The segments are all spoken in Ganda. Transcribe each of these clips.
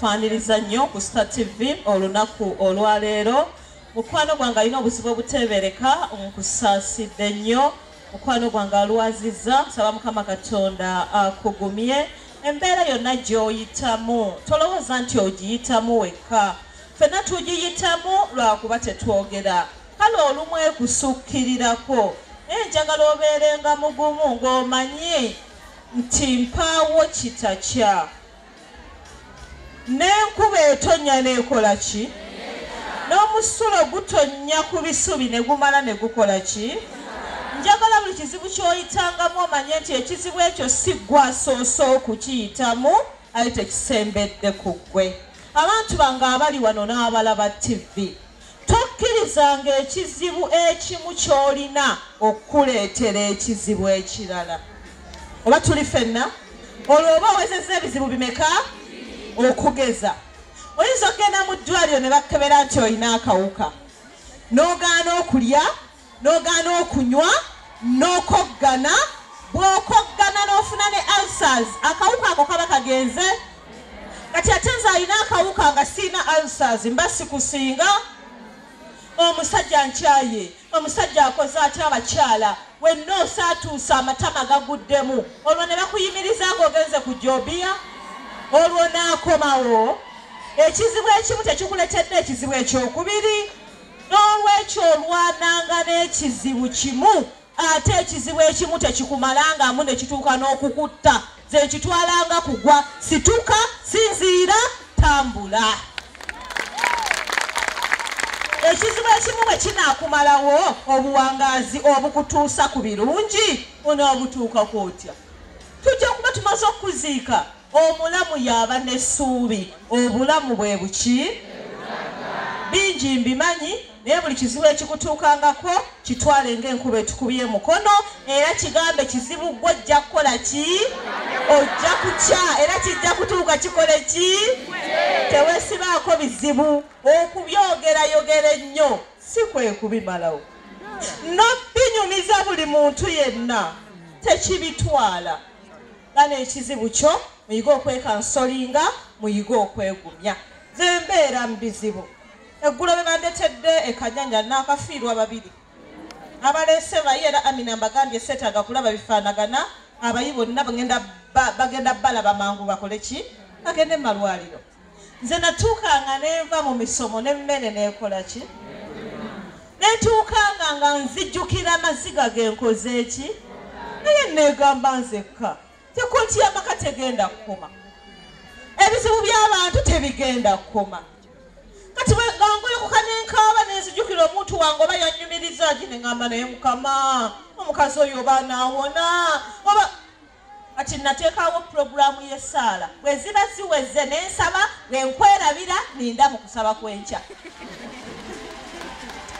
Twaniriza nnyo ku Star TV olunaku olwaleero. Mukwano gwange alina obuzibu obuteebereka, nkusaasidde nnyo. Mukwano gwange alwaziza, nsaba Mukama Katonda akugumye. Embeera yonna gy'oyitamu tolowooza nti ogiyitamu wekka, ffenna tugiyitamu lwakuba tetwogera. Kale olumu ekusukkirirako naye njagala obeerenga mugumu ng'omanyi nti mpaawo kitakya. N'enkuba etonnya n'ekola ki? N'omusulo gutonnya ku bisubi ne gumala ne gukola ki? Njagala buli kizibu ky'oyitangamu omanye nti ekizibu ekyo si ggwe asoose okukiyitamu, ayi tekisembedde ku ggwe. Abantu bange abali wano n'abalaba ttivi. Tokkirizanga ekizibu ekimu ky'olina okukuleetera ekizibu ekirala. Oba tuli fenna? Olwo oba owezezza ebizibu bimeka? Okugeza, oyinza okugenda mu ddwaaliro ne bakukebera nti olina akawuka n'ogaana okulya. n'ogaana okunywa n'okoggana bw'okoggana n'ofuna ne ulcers akawuka ako kaba kagenze kati ate nze alina akawuka nga siina ulcers mba sikusinga omusajja nkyaye omusajja akoze atya abakyala wenna osaatuusa amatama gaguddemu olwo ne bakuyimiriza nga ogenze ku jobiya olwo naakomawo ekizibu ekimu tekikuletedde ekizibu ekyokubiri N'olwekyo olwananga n'ekizibu kimu ate ekizibu ekimu tekikumalangamu ne kituuka n'okukutta. Nze nkitwalanga kugwa situka, sinziira, tambula. Ekizibu ekimu bwe kinaakumalawo, obuwangaazi obukutuusa ku birungi onaabutuukako otya? Tujja kuba tumaze okukuziika. Omulamu y'aba n'essuubi. Obulamu bwe buki? Bingi mbimanyi, naye buli kizibu ekikutuukangako kitwale ng'enkuba etukubye mukono, era kigambe kizibu ggwe ojja kukola ki? Ojja kukya era kijja kutuuka kikole ki? Teweesibaako bizibu. Okubyogerayogera ennyo si kwe kubimalawo. N'obinyumiza buli muntu yenna tekibitwala. Bana ekizibu kyo muyige okwekansolinga muyige okwegumya nze mbeera mu bizibu eggulo be bandetedde ekanyanya naakafiirwa babiri abaleese bayi era amina mbagambye seetaaga kulaba bifaanagana abayi bonna bagenda balaba mangu bakole ki bagende mu malwaliro nze natuuka nga nenva mu misomo nemmere nekola ki netuukanga nga nzijjukira amaziga genkoze eki naye negamba nzekka tekonti yamaka tegenda kukoma ebizibu byabantu tebigenda kukoma kati bwegangolokoka nenkaaba nenzijukira omuntu wange oba yanyumiriza ki nengamba naye mukama omukazi oyo oba nawona oba kati nateekawo pulogulaamu y'essaala bwe ziba ziweze ne nsaba ne nkwerabira ninda mu kusaba kw'enkya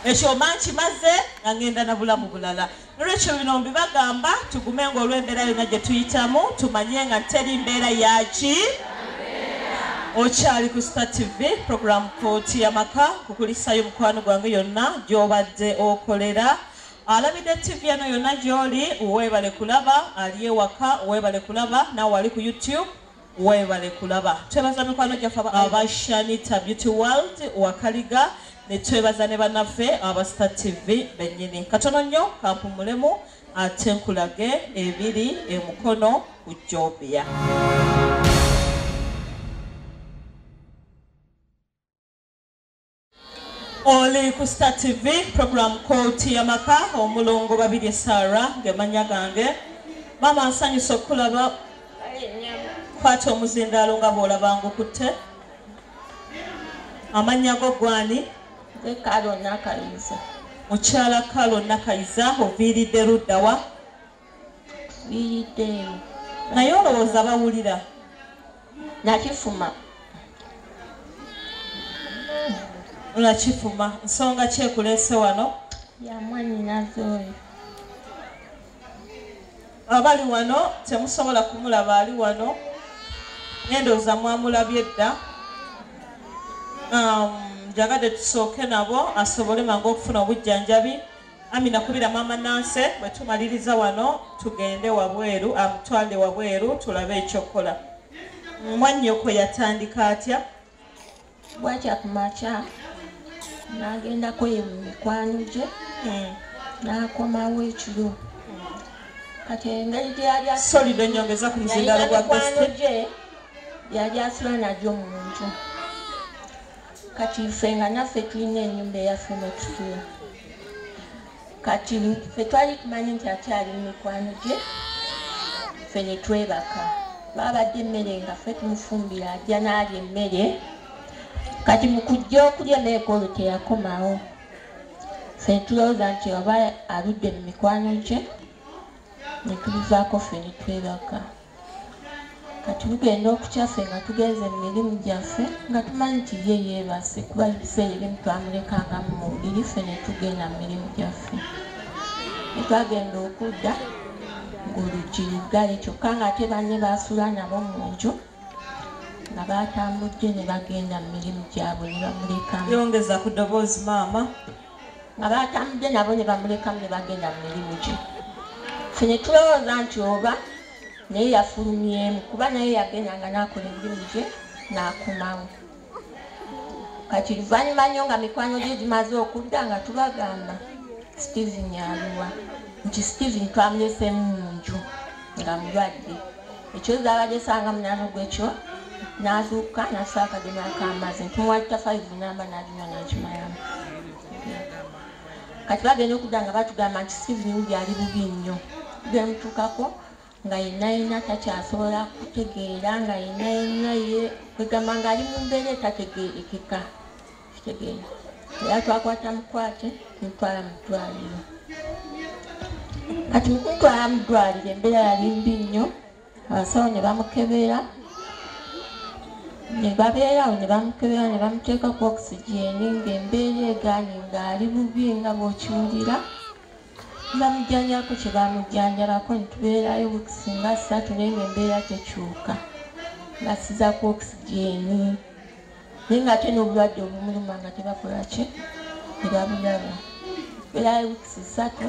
ekyo mba nkimaze nga ngenda na bulamu bulala nolwekyo bino mbibagamba tugume nga olw'embeera yonna gye tuyitamu tumanye nga teri mbeera yaki okyali ku star tv pulogulaamu kooti y'amaka kukulisayo mukwano gwange yonna gy'obadde okolera Alabide TV eno yonna gyoli webale kulaba ali ewaka webale kulaba nawe ali ku YouTube webale kulaba twebaza mikwano gyaffe aba Shanita Beauty World wakaliga netwebaza ne banaffe aba Star TV benyini katono nnyo kampumulemu ate nkulage ebiri emukono ku Jobia oli ku star tv program kooti yamaka omulongo babirye sara ngemanya gange maama nsanyusa okukulaba kwata omuzindaalo nga bwolabangukutte amannya go gwani mukyala kalo nakayiza oviiridde luddawa naye olowooza bawulira nakifuma nakifuma nsonga kyekulese wano yamwanyinaze oyo abali wano temusobola kumulaba ali wano nendooza mwamulabye dda um, njagadde tusooke nabo asobole mangu okufuna obujjanjabi Amina kubira mama Nanse bwetumaliriza wano tugende wabweru amutwale wabweru tulabe ekyokukola mwannyoko yatandika atya bwatya ku makya nagendako ye mu mikwano gye hmm. nakomawo ekiro kati engeri gyeyalya solido nyongeza ku muzindalo gwa mikwano gye yali asula nagyo mu nju kati ffe nga naffe tulina enyumba eyaffe netusula kati ffe twali tumanyi nti akyali mu mikwano gye ffe netwebaka babadde emmere nga ffe tumufumbira ajja naalya emmere kati mukujja okulya emmere kwolwo teyakomawo ffe netulowooza nti oba aludde mu mikwano gye netubivaako ffe netwebaka kati bugenda okukyaffe nga tugenze mu mirimu gyaffe nga tumanyi nti ye yeebase kuba ffe erimu twamulekanga mu mubiri ffe ne tugenda mu mirimu gyaffe etwagenda okudda ng'oluggi luggale kyokka ng'ate banne baasula nabo mu nju nga baatambudde ne bagenda mu mirimu gyabwe ne bamulekamu yongeza ku ddoboozi maama abaatambudde nabo ne bamulekamu ne bagenda mu mirimu gye fe ne tulowooza nti oba naye yafulumyemu kuba naye yagendanga n'akola emirimu gye n'akomawo kati luvannyuma nnyo nga mikwano gye gimaze okudda nga tubagamba steven aliwa nti steven twamuleseemu mu nju nga mulwadde ekyo zabadde sanga munano gwekyo nazuuka nasa akadima akamazi ntimuwa tafaivu namba nalinywa nakimayamu kati bagenda okudda nga batugamba nti sivinimu byali bubi nnyo byemutuukako nga yenna yenna takyasobola kutegeera nga yenna yenna ye kwegamba ngaali mu mbeera etategeerekeka kitegeera era twakwata mukwate ntwala mu ddwaliro kati mukuntwala mu ddwaliro embeera yali mbi nnyo abasawo ne bamukebeera ne babeerawo ne bamukebeera ne bamuteeka ku okisigyeni ng'embeera egaanyi ng'ali bubi nga bw'okiwulira bamujjanjabako kye bamujjanjabako ne tubeerayo bukisi nga ssatu naye ng'embeera tekyuka basiza ku okisigyeni naye nga ate n'obulwadde obumuluma nga tebakola ki tebabulaba era wikisi ssatu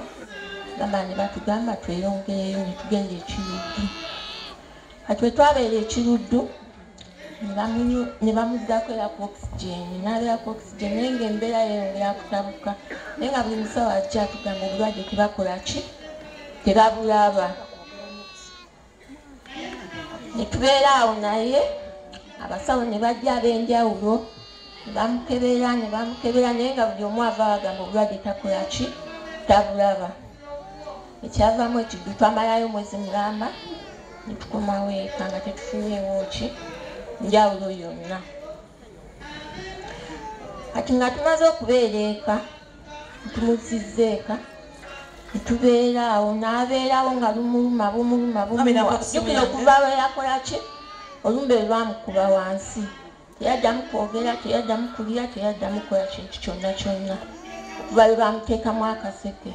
gamba ne batugamba tweyongereyo ne tugenda ekiruddu kati we twabeera ekiruddu ne bamuddako era ku oxygen n'abeera ku oxygen naye nga embeera yeyongera kutabuka naye nga buli musawo ajja atugamba obulwadde tebakola ki tebabulaba netubeera awo naye abasawo ne bajja ab'enjawulo ne bamukebera ne bamukebera naye nga buli omu ava bagamba obulwadde takola ki tabulaba ekyavamu ekiddu twamalayo omwezi mulamba netukomawo eka nga tetufunyeewo ki njawulo yonna kati nga tumaze okubeera eka tumuzizza eka netubeera awo n'abeerawo nga lumuluma bumuluma bumujukira okuva we yakola ki olumbe lwamukuba wansi teyaddamu kwogera teyaddamu kulya teyaddamu kukola kintu kyonna kyonna okuva lwe bamuteekamu akaseke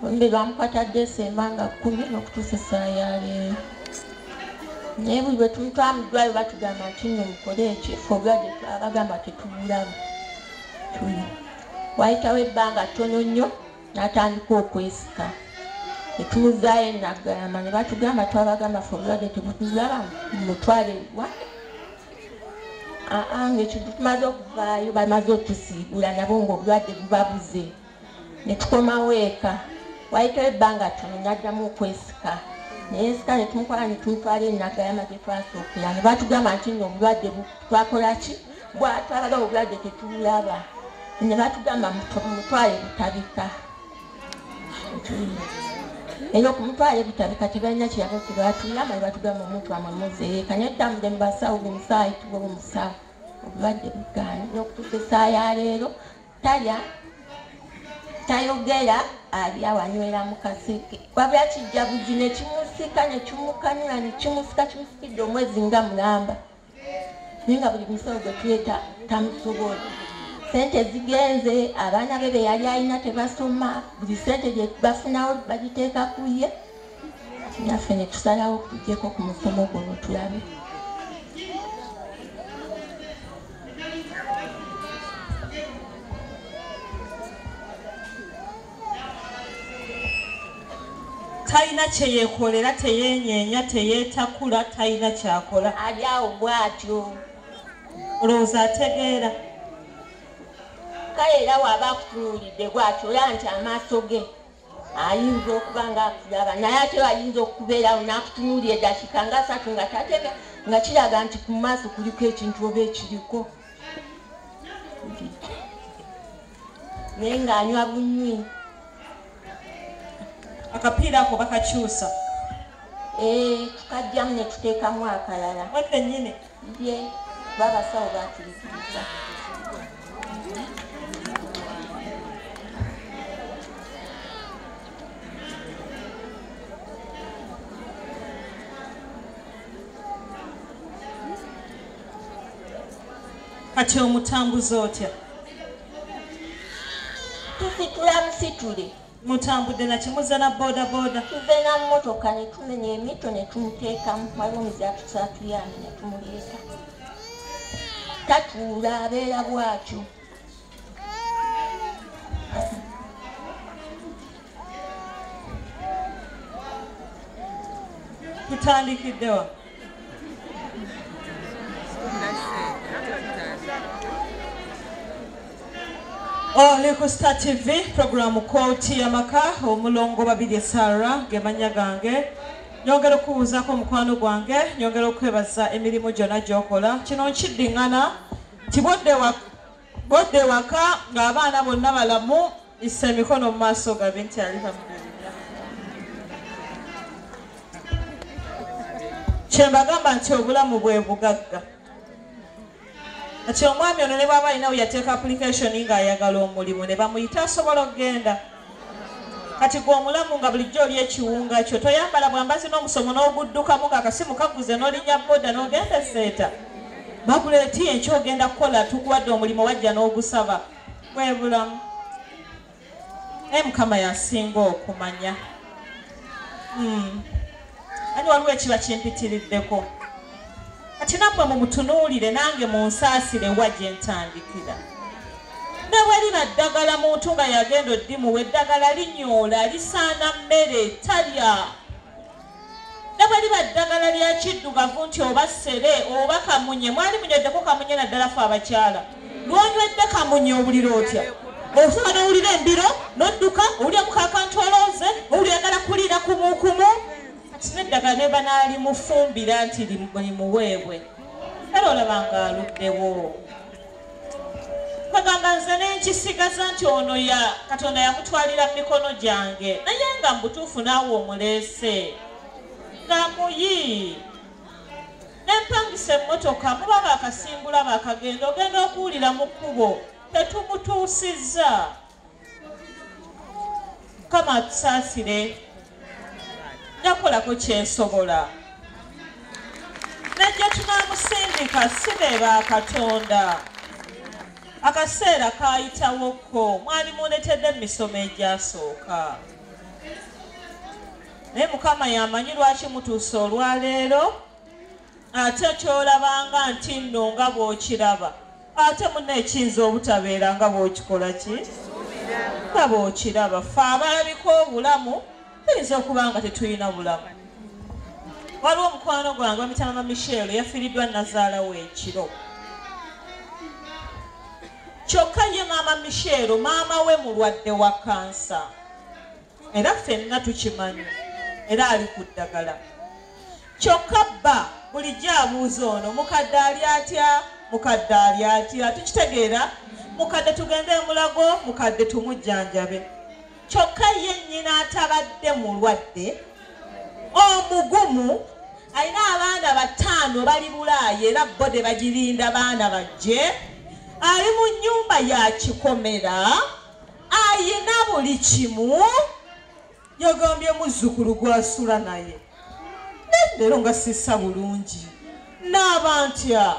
ombi bamukatadde esemba nga kumi nokutuusa essaa yaleero naye buli bwetutwamudwayo batugamba nti no mukole ekyo fogadde abagamba tetubulamu tuli wayitawo ebbanga ttono nnyo natandika okwesika etumuzayo enagalama ne batugamba twabagamba fogadde tebutulaba mutwale wa aa ngaekyo tumaze okuvaayo bamaze otusiibula nabo ngaobulwadde bubabuze netukomawo eka wayitawo ebbanga tono naddamu okwesika neyesika netumukola netumutwala enagayama gyetwasookeya nebatugamba nti no obulwadde twakolaki bwatwalaga obulwadde tetulaba nebatugamba mutwale butabika era okumutwala ebitabika tebalina kirabo kyebatuyamba nebatugamba omuntu wamwe muzeeka naye tutambudde mu basawo buli musaayi tuba omusawo obulwadde bugaana nokutusa esaawa ya leero talya tayogera alya wanywera mukaseke wabula kijjabuzi nekimusika nekimukanula nekimusika kimusikidde omwezi nga mulamba naye nga buli musawo gwetuyeta tamusobola sente zigenze abaana be beyali alina tebasoma buli sente gyebafunawo bagiteeka kuye naffe netusalawo kujeko ku musomo guno tulabe talina kyeyekolera teyenyenya teyetakula talina kyakola ali awo bwatyo olowooza ategeera kale era waba akutunuulidde bwatyo ola nti amaaso ge ayinza okuba nga akulaba naye ate ayinza okubeerawo n'akutunuuli edakika nga asatu nga tatega nga kiraga nti ku maaso kuliko ekintu oba ekiriko naye ng'anywa bunywi akapiira ako bakakyusa eh, tukajjamu ne tuteekamu akalala bye babasawo bakirikiriza kati omutambuza otya tusitula musitule mutambudde na kimuza na bodaboda tuve na mmotoka ne tumenya emito ne tumuteekamu waliwo omuzi atuse atuyambe ne tumuleeta tatuula abeera bwatyo tutandikiddewa oli ku star tv programu kooti yamaka omulongo babirye sara gemanya gange nyongera okubuuzaako omukwano gwange nyongera okwebaza emirimu gyonna gyokola kino nkiddingana tibwoddewa Bodda ewaka ng'abaana bonna balamu, issa emikono mu maaso gabe nti ali bamubi. kyembagamba nti obulamu bwe bugagga kati omwami ono ne bwaba alinawo yateeka application nga ayagala omulimu ne bamuyita asobola okugenda kati gwe omulamu nga bulijjo oli ekiwunga kyo toyambala bwambazi n'omusomo n'oguddukamu nga akasimu kaguze n'olinya boda n'ogenda eseeta bagula eti enkyo ogenda kukola tukuwadde omulimu wajja n'ogusaba kwebulamu naye mukama yasinga okumanya hmm. ani waliwo ekiba kimpitiriddeko kati nammwe mumutunuulire nange munsaasire wa gye ntandikira ne bwe liba ddagala muntu nga yagenda oddimuwa eddagala linyoola lisaana mmere talya ne bwe liba ddagala lya kiddugavu nti oba ssere oba kamunye mwali munyoddeko kamunye naddala fe abakyala lwonywedde kamunye owulira otya osaba nowulira embiro nodduka owulira mukakantu olooze owulira yagala kuliira kumukumu kati neddagala nebanaali mufumbira nti limuweebwe era olaba nga aluddewo kagamba nze nenkisigaza nti ono ya katonda yamutwalira mu mikono gyange naye nga mubutuufu naawe omuleese nga muyi nempangisa emmotoka muba bakasimbula bakagenda ogenda okuwulira mu kkubo tetukutuusizza kama atusaasire nakolako kyensobola najja tunamusindika si be ba katonda akaseera kayitawokko mwali muletedde mu misomo egyasooka naye mukama yamanyi lwaki mutuuse olwaleero ate kyolabanga nti nno nga bwokiraba ate muna ekiyinza obutabeera nga bwokikola ki nga bwokiraba fe abalabika obulamu tuyinza okuba nga tetulina bulamu waliwo omukwano gwange wamitamama michel yafiiriddwa nazaala we ekiro kyokka ye maama michel maama we mulwadde wa kansa era ffenna tukimanyi era ali ku ddagala kyokka bba bulijjo abuuza ono mukadde ali atya mukadde ali atya tukitegeera mukadde tugende emulago mukadde tumujjanjabe kyokka ye nnyina atabadde mulwadde omugumu alina abaana bataano bali bulaaya era bode bagirinda baana bajje ali mu nnyumba ya kikomera ayina buli kimu yagambye muzzukulu gwasula naye leero nga sissa bulungi naaba ntya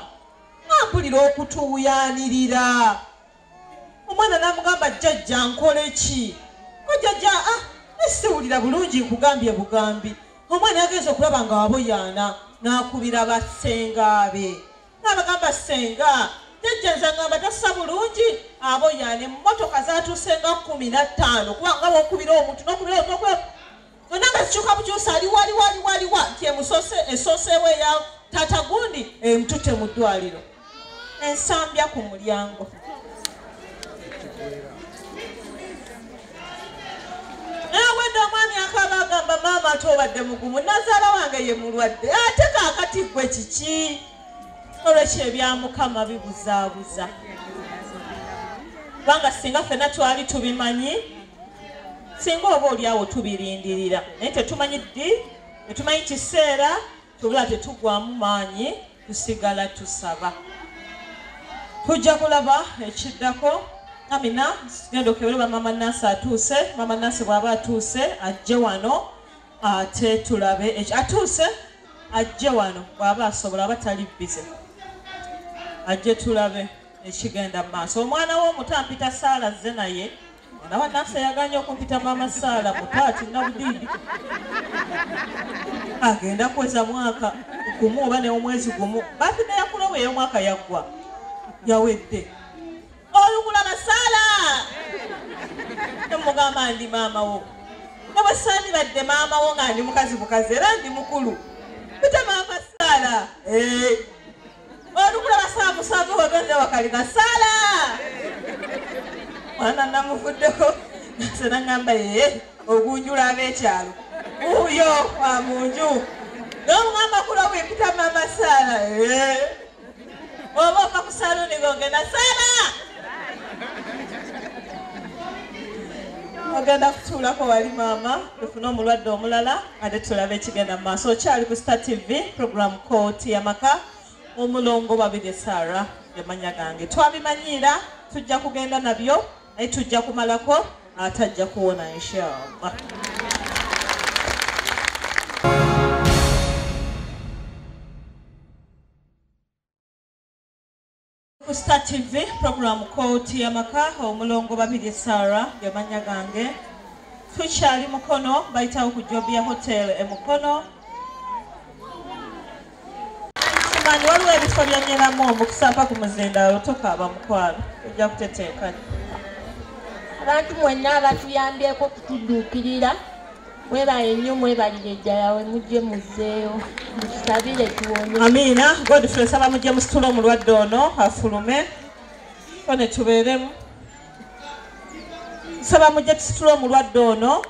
ampulira okutuuyanirira omwana namugamba jjajja nkoleki ojjajja ah, siwulira bulungi nkugambye bugambi omwana yagenza okulaba nga waboyaana n'akubira bassengaabe N'abagamba ssenga, jjajja nze angamba tassa bulungi aboyaana emmotoka zatuuse nga kkumi na ttaano kuba nga wokubira omuntu nokubira omuntu nokubira zonna nga zikyuka bukyusa ali wali wali wali wa nti emusose esooseewo eya tata gundi emutute mu ddwaliro ensambya ku mulyango nawedde omwami akaba agamba maama ate obadde mugumu nazaala wange ye mulwadde ate kakati gwe kiki olwekyo ebyamukama bibuzaabuza kubanga singa fena twali tubimanyi singa oba olyawo tubirindirira naye tetumanyi ddi tetumanyi kiseera Tubula tetugwamu maanyi tusigala tusaba. Tujja kulaba ekiddako. Amina, genda okebere ba Mama Nansi atuuse. Mama Nansi bw'aba atuuse ajje wano ate tulabe ekyo. Atuuse ajje wano bw'aba asobola aba tali bbize. Ajje tulabe ekigenda mu maaso. Omwana w'omuto ampita Saala azze naye. nawa nafsa yaganye okumpita maama saala mutaati nabudiidi agenda kuweza mwaka gumu oba neomwezi gumu bathide yakulo bwe yomwaka yaggwa yawedde olugula nasaala nemugamba ndi maama wo nebwe sandibadde maama wo nga ndi mukazi bukazi era ndi mukulu bita maama saala eh. olukulaba saa musanvu wagenda wakalina sala mwana namuvuddeko nze nangamba yeye ogunjula abekyalo uyo wa munju nomugamba kulo bwepita mama sala oba ova ku saluni gogenda sala ogenda kutuulako wali maama ofune omulwadde omulala ate tulabe ekigenda mu maaso okyali ku star tv program kooti yamaka omulongo babirye sara yamanya gange twabimanyiira tujja kugenda nabyo naye tujja kumalako ate ajja kuwona inshallah ku star tv puroguramu kooti yamaka omulongo babirye sara gemanya gange tukyali mukono bayitawo ku jobi ya hotel e mukono kimanyi waliwo ebifo byonyeramu omukusamba ku muzindaalo tokaaba mukwalo ojja kuteteekanya abantu mwenna abatuyambyeko okutudduukirira Mwebale nnyo mwebalire ddala we mujje muzzeeyo mutusabire tuwone. Amiina Godfrey nsaba mujje musitule omulwadde ono afulume ko ne tubeeremu. Nsaba mujje tusitule omulwadde ono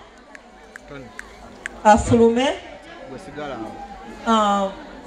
afulume. Gwe sigala awo. Ah.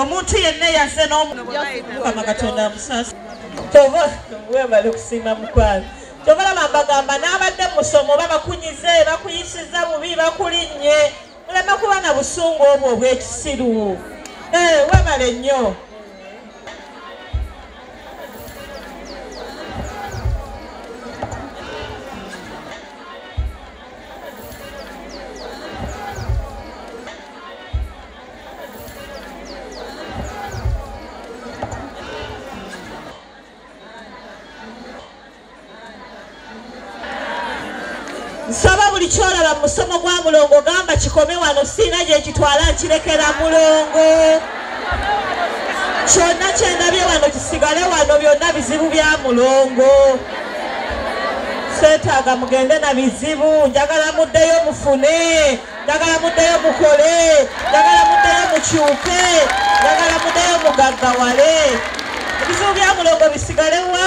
omuntu yenna yaze nomukama katonda amusaasa webale kusiima mukwano kyobalaba mbagamba n'abadde musomo oba bakunyize bakuyisiza bubi bakulinnye muleme kuba na busungu obwo obwekisiru eh, webale nnyo nsaba buli kyolaba musomo gwa mulongo gamba kikome wano siina gyekitwala nkirekera mulongo kyonna kyendabye wano kisigale wano byonna bizibu bya mulongo seetaaga mugende na bizibu njagala muddeyo mufune njagala muddeyo mukole njagala muddeyo mukyuke njagala muddeyo mugaggawale ebizibu bya mulongo bisigalewa